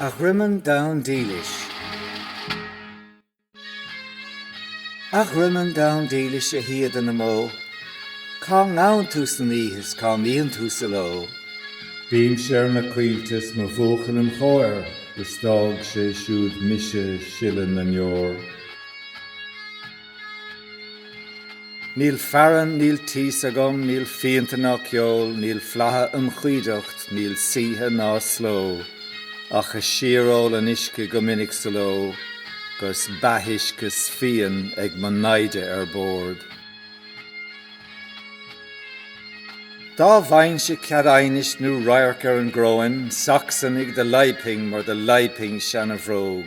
A dhroimeann donn dílis. A dhroimeann donn dílis a shíoda na mbó, cá ngabhann tú san oíche is cá mbíonn tú sa ló? Bímse ar na coillte 's mo bhuachaill im' chomhair is d'fhág sé siúd mise ag sileadh na ndeor. Níl fearann, níl tíos agam, níl fíonta ná ceol, níl flatha im choimhdeacht, níl saoithe ná sló, ach ag síoról an uisce go minic sa ló, 'gus beathuisce 's fíon ag mo naimhde ar bord. Dá bhfaighinnse cead aighnis nó radharc ar an gcoróin, Sacsanaigh do leidhbfinn mar do leidhbfinn seanabhróg,